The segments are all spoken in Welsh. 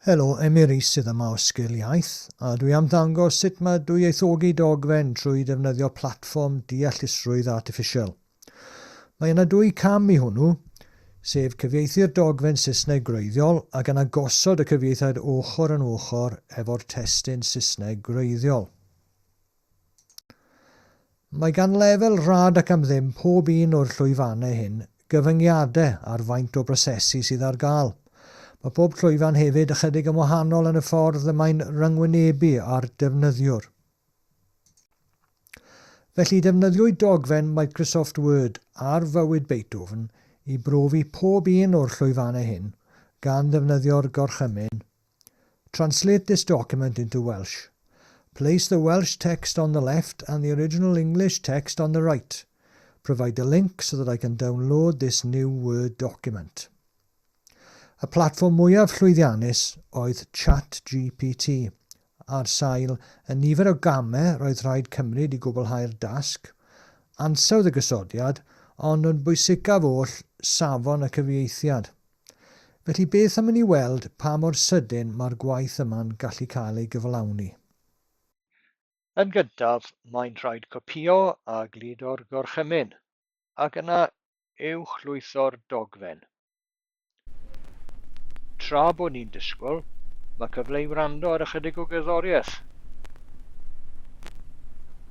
Helo, Emyr Rees sydd yma o Sgil Iaith, a dwi am ddangos sut mae dwyieithogi dogfen trwy ddefnyddio platfform deallusrwydd artiffisial. Mae yna dwy cam i hwnnw, sef cyfieithu'r dogfen Saesneg gwreiddiol ac yna gosod y cyfieithiad ochr yn ochr efo'r testun Saesneg gwreiddiol. Mae gan lefel rhad ac am ddim pob un o'r llwyfannau hyn gyfyngiadau ar faint o brosesu sydd ar gael. Mae pob llwyfan hefyd ychydig yn wahanol yn y ffordd y mae'n ryngwynebu â'r defnyddiwr. Felly, defnyddiwyd dogfen Microsoft Word ar fywyd Beethoven i brofi pob un o'r llwyfannau hyn, gan ddefnyddio'r gorchymyn Translate this document into Welsh. Place the Welsh text on the left and the original English text on the right. Provide the link so that I can download this new Word document. Y platfform mwyaf llwyddiannus oedd ChatGPT, ar sail y nifer o gamau roedd rhaid cymryd i gwblhau'r dasg, ansawdd y gosodiad, ond yn bwysicaf oll, safon y cyfieithiad. Felly beth am i ni weld pa mor sydyn mae'r gwaith yma'n gallu cael ei gyflawni. Yn gyntaf, mae'n rhaid copïo a gludo'r gorchymyn, ac yna uwchlwytho'r dogfen. Tra bod ni'n disgwyl, mae cyfle i wrando ar ychydig o gerddoriaeth.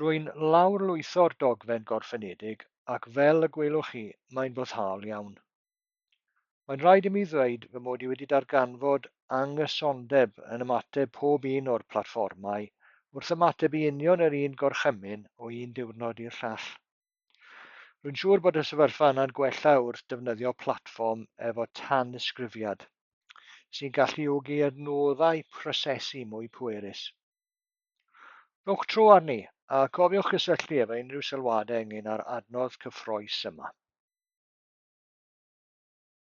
Rwy'n lawrlwytho'r dogfen gorffenedig ac fel y gwelwch chi, mae'n foddhaol iawn. Mae'n rhaid i mi ddweud fy mod i wedi darganfod anghysondeb yn ymateb pob un o'r platfformau wrth ymateb i union yr un gorchymyn o un diwrnod i'r llall. Rwy'n siŵr bod y sefyllfa yna'n gwella wrth defnyddio platfform efo tanysgrifiad, sy'n galluogi adnoddau prosesu mwy pwerus. Rhowch tro arni, a cofiwch gysylltu efo unrhyw sylwadau ynglyn â'r adnodd cyffroes yma.